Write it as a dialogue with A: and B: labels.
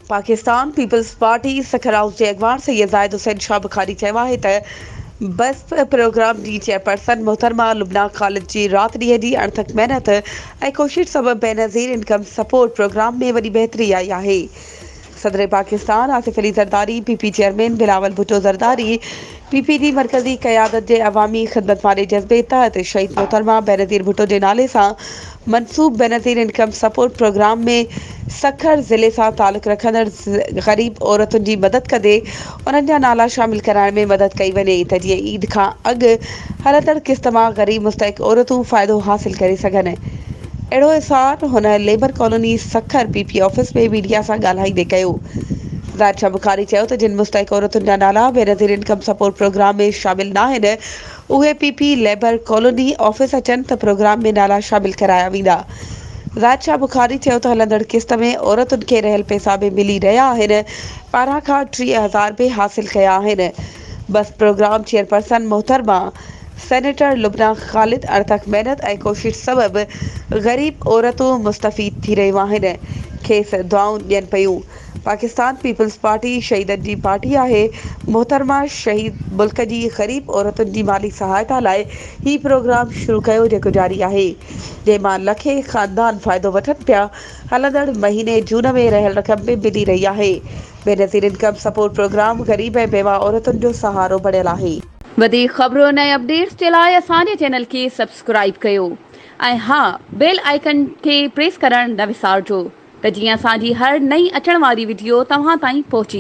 A: Pakistan Peoples Party سکرائوس جي اڳواڻ سيد زاهد حسين شاهه بخاري چيو آهي ته بسپ پروگرام جي چيئرپرسن محترمه لبنه خالد جي رات ڏينهن جي اڻٿڪ محنت ۽ ڪوشش سبب بينظير انڪم سپورٽ پروگرام ۾ وڏي بهتري آئي آهي صدر Pakistan Asif Ali Zardari P P chairman Bilawal Bhutto Zardari P P جي مرڪزي قيادت جي عوامي خدمت واري جذبي تحت شهيد محترمه بينظير ڀٽو جي نالي سان منسوب Benazir Income Support Programme ۾ Sukkur ضلعي سان تعلق رکندڙ غريب عورتن جي مدد ڪندي انهن جا نالا شامل ڪرائڻ ۾ مدد ڪئي وڃي ته جيئن عيد کان اڳ هلندڙ قسط مان غريب مستحق عورتون فائدو حاصل ڪري سگهن. اهڙو اظهار هن Labour Colony Sukkur P P office ۾ media سان ڳالهائيندي ڪيو. ظاهر شاهه بخاري چيو ته جن مستحق عورتن جا نالا Benazir Income Support Programme ۾ شامل ناهن اهي P P Labour Colony office اچن ته پروگرام ۾ نالا شامل ڪرايا ويندا. ظاهر شاهه بخاري چيو ته هلندڙ قسط ۾ عورتن کي رهيل پيسا به ملي رهيا آهن ٻارهن کان ٽيهه هزار به حاصل ڪيا آهن بس پروگرام چيئرپرسن محترمه سينيٽر لبنان خالد اڻٿڪ محنت ۽ ڪوشش سبب غريب عورتون مستفيد ٿي رهيون آهن کيس دعائون ڏين پيون پاڪستان پيپلز پارٽي شهيدن جي پارٽي آهي محترمه شهيد ملڪ جي غريب عورتن جي مالي سهائتا لاء هي پروگرام شروع ڪيو جيڪو جاري آهي جنهن مان لکين خاندان فائدو وٺن پيا هلندڙ مهيني جون ۾ رهيل رقم به ملي رهي آهي بينظير انڪم سپورٽ پروگرام غريب ۽ بيواهه عورتن جو سهارو بڻيل آهي. وڌيڪ خبرن
B: ۽ اپڊيٽس جي لاء اسان جي چينل کي سبسڪرائيب ڪيو ۽ ها بيل آئيڪن کي پريس ڪرڻ نه وسارجو ته جيئن اسان جي هر نئين اچڻ واري وڊيو توهان تائين پهچي.